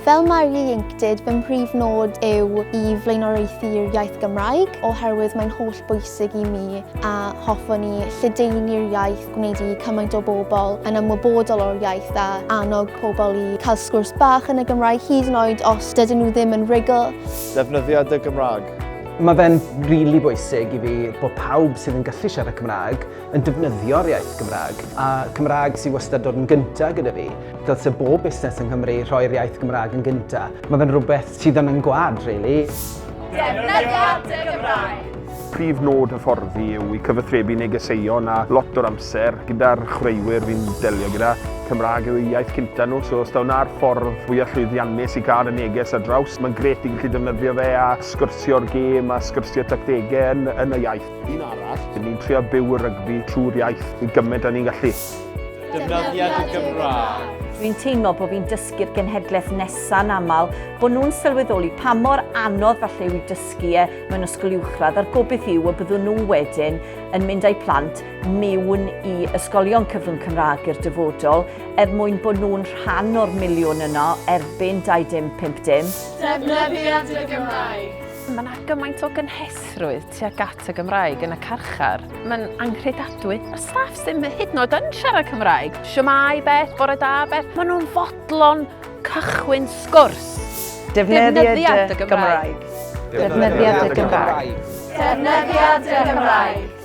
Fel mae'r ieuenctid, fy mhrif nod yw i flaenoriaethu'r iaith Gymraeg oherwydd mae'n holl bwysig i mi a hoffwn i lledaenu'r iaith, gwneud i cymaint o bobl yn ymwybodol o'r iaith a annog pobl i cael sgwrs bach yn y Gymraeg hyd yn oed os dydyn nhw ddim yn rhugl. Defnyddia dy Gymraeg. Mae fe'n rili really bwysig i fi bod pawb sydd yn gallu siarad Cymraeg yn defnyddio'r iaith Gymraeg, a Cymraeg sy'n wastad dod yn gyntaf gyda fi. Dylse bob busnes yng Nghymru rhoi'r iaith Gymraeg yn gyntaf. Mae fe'n rhywbeth sydd yn yn gwad, really. Defnyddia dy Gymraeg! Prif nod hyfforddi yw i cyfathrebu negeseuon a lot o'r amser gyda'r chwaraewyr fi'n delio gyda. Cymraeg yw eu iaith cynta nhw, so os daw na'r ffordd fwyaf llwyddiannus i gael y neges ar draws, mae'n gret i gallu defnyddio fe a sgyrsio'r gêm a sgyrsio'r tactegau yn, yn y iaith. Un arall, dyn ni'n trio byw y rygbi trwy'r iaith i gymaint a ni'n gallu. Defnyddiad y Gymraeg. Dwi'n teimlo bod fi'n dysgu'r genhedlaeth nesaf yn aml, bod nhw'n sylweddoli pa mor anodd falle yw i dysgu e mewn ysgol uwchradd a'r gobydd yw y byddwn nhw wedyn yn mynd â'i plant mewn i ysgolion cyfrwng Cymraeg i'r dyfodol er mwyn bod nhw'n rhan o'r miliwn yno erbyn 2550. Defnyddiad y Gymraeg. Mae yna gymaint o gynhesrwydd tuag at y Gymraeg yn y carchar. Mae'n anghredadwy. Mae staff sy'n hyd yn oed yn siarad Cymraeg. Siamai beth, bore da beth. Maen nhw'n fodlon cychwyn sgwrs. Defnyddiad y Gymraeg. Defnyddiad y Gymraeg. Defnyddiad y Gymraeg.